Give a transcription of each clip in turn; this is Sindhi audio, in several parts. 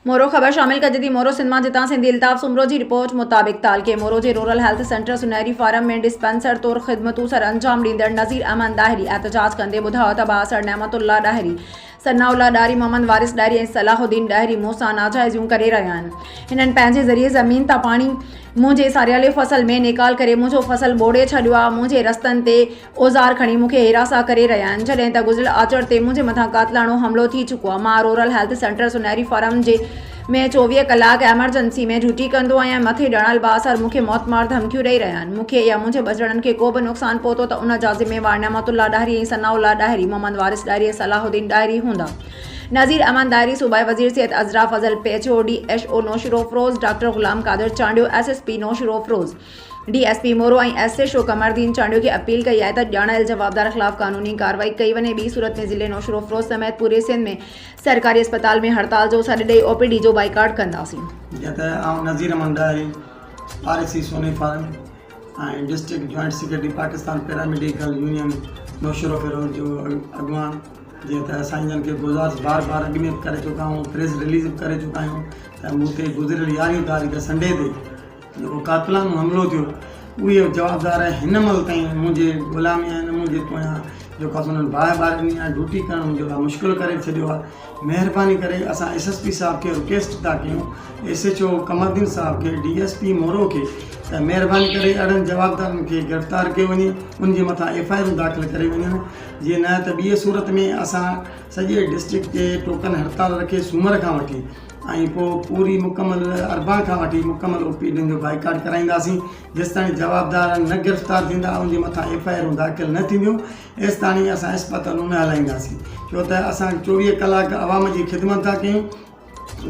مورو، خبر شامل ڪجي ٿي مورو سنڌ مان جتان سنڌي الطاف سومرو جي رپورٽ مطابق تعلقي مورو جي rural health centre Sunehri farm ۾ dispenser طور خدمتون سر انجام ڏيندڙ نظير احمد ڏاهري احتجاج ڪندي ٻڌايو ته بااثر نعمت الله ڏاهري ثناء الله ڏاهري محمد وارث ڏاهري ۽ صلاح الدين ڏاهري مون سان ناجائزيون ڪري رهيا آهن هنن پنهنجي ذريعي زمين تان پاڻي منهنجي ساريالي فصل ۾ نيڪال ڪري منهنجو فصل ٻوڙي ڇڏيو آهي منهنجي رستن تي اوزار کڻي مون کي هراسان ڪري رهيا آهن جڏهن ته گذريل آچر تي منهنجي مٿان قاتلاڻو حملو ٿي چڪو آهي مان rural health centre Sunehri farm جي ۾ چوويهه ڪلاڪ ايمرجنسي ۾ ڊيوٽي ڪندو آهيان مٿي ڏنل بااثر مون کي موت مار ڌمڪيون ڏئي رهيا آهن مون کي يا منهنجي ٻچڙن کي ڪو به نقصان پهتو ته ان جا ذميوار نعمت الله ڏاهري ۽ ثناء الله ڏاهري محمد وارث ڏاهري ۽ صلاح الدين ڏاهري هوندا نذير احمد ڏاهري صوبائي وزير Syed Azra Fazal P H O D H O Naushahro Feroze doctor Ghulam Qadir Chandio S S P Naushahro Feroze D S P Moro ۽ S H O Qamaruddin Chandio کي اپيل ڪئي آهي ته ڄاڻايل جوابدار خلاف قانوني ڪارروائي ڪئي وڃي ٻي صورت ۾ ضلعي نوشهروفروز سميت پوري سنڌ ۾ سرڪاري اسپتال ۾ هڙتال جو سڏ ڏئي او پي ڊي جو بائيڪاٽ ڪنداسين. جيئن ته آئون Nazir Ahmed Dahri R A C Soni farm ۽ district joint secretary Pakistan paramedical union Naushahro Feroze جو اڳواڻ جيئن ته اسان انهن کي گذارش بار بار اڳ ۾ به ڪري چڪا آهيون پريس رليز به ڪري چڪا آهيون ته مون تي گذريل يارهين تاريخ سنڊي تي جيڪو قاتلانو حملو ٿيو اهي جوابدار آهن هن مهل تائين منهنجي غلامي آهن منهنجي پويان جيڪو آسان انهن باهه ٻارين ڏينهن آهي ڊيوٽي ڪرڻ منهنجي لاء مشڪل ڪري ڇڏيو آهي مهرباني ڪري اسان ايس ايس پي صاحب کي رڪيسٽ ٿا ڪيون ايس ايچ او قمردين صاحب کي ڊي ايس پي مورو کي ته مهرباني ڪري اهڙن جوابدارن کي گرفتار ڪيو وڃي انهن جي مٿان ايف آء آرون داخل ڪري وڃن جي نه ته ٻي صورت ۾ اسان سڄي ڊسٽرڪٽ جي ٽوڪن هڙتال رکي سومر کان وٺي ۽ پوء پوري مڪمل اربان کان وٺي مڪمل او پي ڊين جو بائيڪاٽ ڪرائينداسين جيستاڻي جوابدار نه گرفتار ٿيندا ان جي مٿان ايف آء آرون داخل نه ٿينديون ايستاڻي اسان اسپتالون نه هلائينداسين ڇو ته اسان چوويهه ڪلاڪ عوام جي خدمت ٿا ڪيون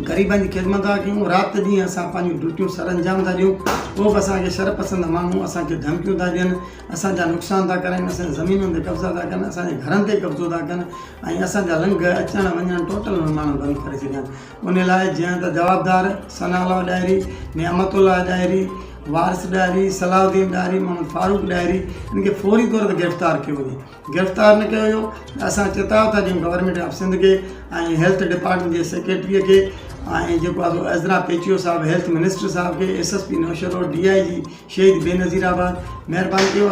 غريبن جي خدمت ٿا ڪيون رات ڏينهن اسان پنهنجون ڊيوٽيون سرانجام ٿا ڏيون پوء به اسان کي شرپسند ماڻهو اسان کي ڌمڪيون ٿا ڏين اسان جا نقصان ٿا ڪرن، اسان جي زمينن تي قبضا ٿا ڪن، اسان جي گهرن تي قبضو ٿا ڪن ۽ اسان جا لنگهه، اچڻ وڃڻ ٽوٽل اهي ماڻهو بند ڪري ڇڏين. انهي لاء جيئن ته جوابدار ثناء الله ڏاهري، نعمت الله ڏاهري، وارث ڏاهري، صلاح الدين ڏاهري، محمد فاروق ڏاهري، انهن کي فوري طور تي گرفتار ڪيو وڃي. گرفتار نه ڪيو ويو ته اسان چتاء ٿا ڏيون گورنمينٽ آف سنڌ کي ۽ هيلٿ ڊپارٽمينٽ جي سيڪريٽري کي ۽ جيڪو آهي سو عزرا پيچيو صاحب هيلٿ منسٽر صاحب کي S S P Naushahro D I G Shaheed Benazir آباد مهرباني ڪيو اسان